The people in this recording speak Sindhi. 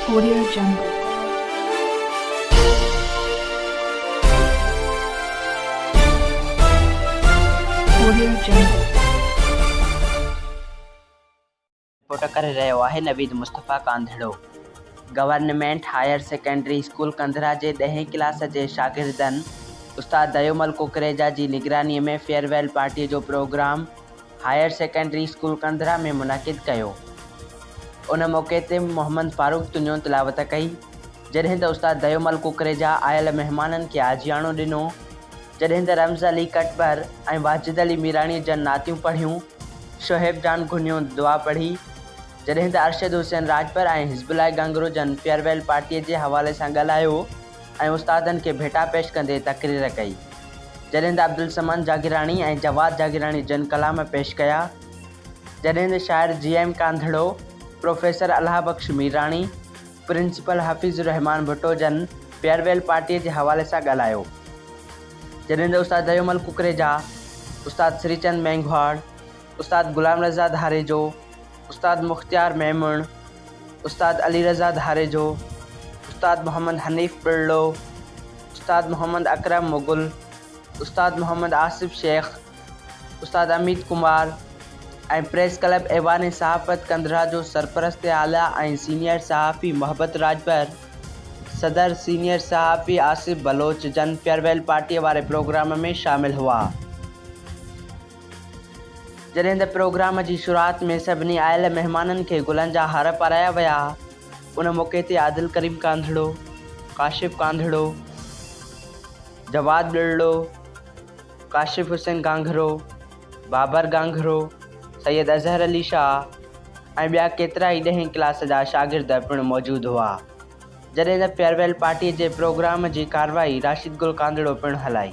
ڪوريا جنگ، ڪوريا جنگ. رپورٽ ڪري رهيو آهي Naveed Mustafa Kandhro. Government higher secondary school Kandhra جي ڏهين ڪلاس جي شاگردن استاد ديومل ڪوڪريجا جي نگراني ۾ فيئر ويل پارٽي جو programme higher secondary school Kandhra ۾ منعقد ڪيو. ان موقعي تي محمد فاروق تنيو تلاوت ڪئي، جڏهن ته استاد ديومل ڪوڪريجا آيل مهمانن کي آجياڻو ڏنو، جڏهن ته رمز علي ڪٽڀر ۽ واجد علي ميراڻي جن نعتيون پڙهيون، شعيب جان گهنيو دعا پڙهي، جڏهن ته ارشد حسين راڄپر ۽ حزب الله گهنگرو جن فيئر ويل پارٽيء جي حوالي سان ڳالهايو. ۽ استادن کي ڀيٽا پيش ڪندي تقرير ڪئي. جڏهن ته عبدالصمد جاگيراڻي ۽ جواد جاگيراڻي جن ڪلام پيش ڪيا. جڏهن ته شاعر G M Kandhro, professor Allah Bakhsh Mirani, principal Hafeez ur-Rehman Bhutto جن فيئر ويل پارٽيء جي حوالي سان ڳالهايو. جڏهن ته استاد ديومل ڪڪريجا، استاد سريچند مينگهواڙ، استاد غلام رضا ڌاريجو، استاد مختيار ميمڻ، استاد علي رضا ڌاريجو، استاد محمد حنيف ٻرڙو، استاد محمد اڪرم مغل، استاد محمد آصف شيخ، استاد اميت ڪمار ۽ پريس ڪلب ايوان صحافت ڪنڌرا جو سرپرست اعليٰ ۽ سينيئر صحافي محبت راڄپر، صدر، سينيئر صحافي آصف بلوچ جن فيئرويل پارٽيء واري پروگرام ۾ شامل هئا. جڏهن ته پروگرام جي شروعات ۾ سڀني آيل مهمانن کي گلن جا هار پارايا ويا. ان موقعي تي عادل ڪريم ڪانڌڙو، ڪاشف ڪانڌڙو، جواد ٻرڙو، ڪاشف حسين گانگهرو، بابر گانگهرو، سيد اظهر علي شاهه ۽ ٻيا ڪيترائي ڏهين ڪلاس جا شاگرد پڻ موجود هئا. جڏهن ته فيئرويل پارٽي جي پروگرام جي ڪارروائي راشد گل ڪانڌڙو پڻ هلائي.